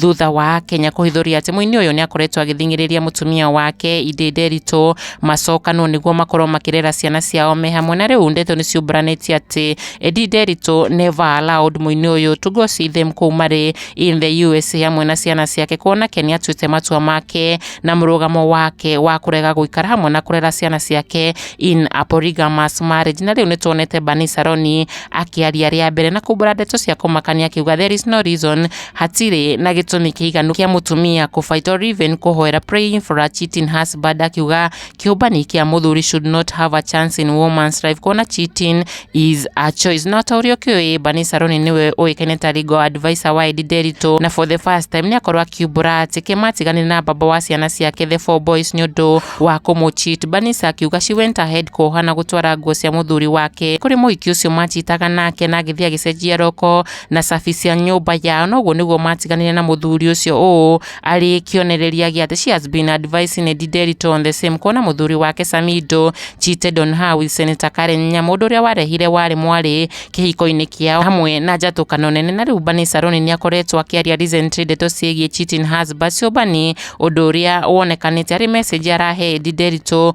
thutha wa Kenya kũhithũria atĩ mũini ũyũ nĩ akoretwo agĩthing'ĩrĩria mũtumia wake Inde Nderitu macokanwo nĩguo makorwo makĩrera ciana ciao me hamwe na rĩu ndeto nĩ ciumburanĩtie atĩ Inde Nderitu never allowed mũini ũyũ to go see them kũu marĩ in the USA hamwe na ciana ciake kuona ke nĩ atuĩte matua make na mũrũgamo wake wa kũrega gũikara hamwe na kũrera ciana ciake in a polygamous marriage na rĩu nĩ tuonete Bani Saroni akĩaria rĩa mbere na kumbura ndeto cia kũmakania akiuga there is no reason Hatirĩ na gĩtũmi kĩiganu kĩa mũtumia kũbaita or even kũhoera praying for a cheating husband akiuga kĩũmbani kĩa mũthuri should not have a chance in woman's life kuona cheating is a choice no ta ũrĩa ũkĩũĩ Bani Saroni nĩwe ũĩkaine ta legal advisor wa Edi Nderitũ na for the first time nĩakorwo akiumbũra atĩ kĩmatigane na baba wa ciana ciake the four boys nĩ ũndũ wa kũmũ cheat Banisa akiuga she went ahead kuoha na gũtwara nguo cia mũthuri wake kũrĩ mũhiki ũcio machitaga nake na agĩthiĩ agĩcenjia roko na cabi cia nyũmba yao, na ũguo nĩguo matiganire na mũthuri ũcio ũũ arĩ kĩonereria gĩa thĩ. She has been advising Edi Derito on the same kuona mũthuri wake Samido cheated on her with Senator Karen Nyamu, ũndũ ũrĩa warehire warĩ mwarĩ kĩhiko-inĩ kĩao hamwe na njatũkano nene. Na rĩu Bani Saruni nĩ akoretwo akĩaria recently ndeto ciĩgiĩ cheating husband Ciũmbani, ũndũ ũrĩa wonekanĩte arĩ message arahe Edi Derito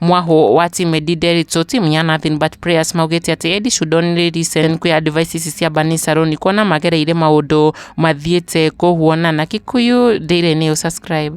Mwahu wa timu Eddie Derito, timu ya Nothing But Prayers maugĩte atĩ Eddie should only listen kwĩ advice ici cia Bani Saroni kuona magereire maũndũ mathiĩte kũhuona na Kikuyu Daily News subscribe.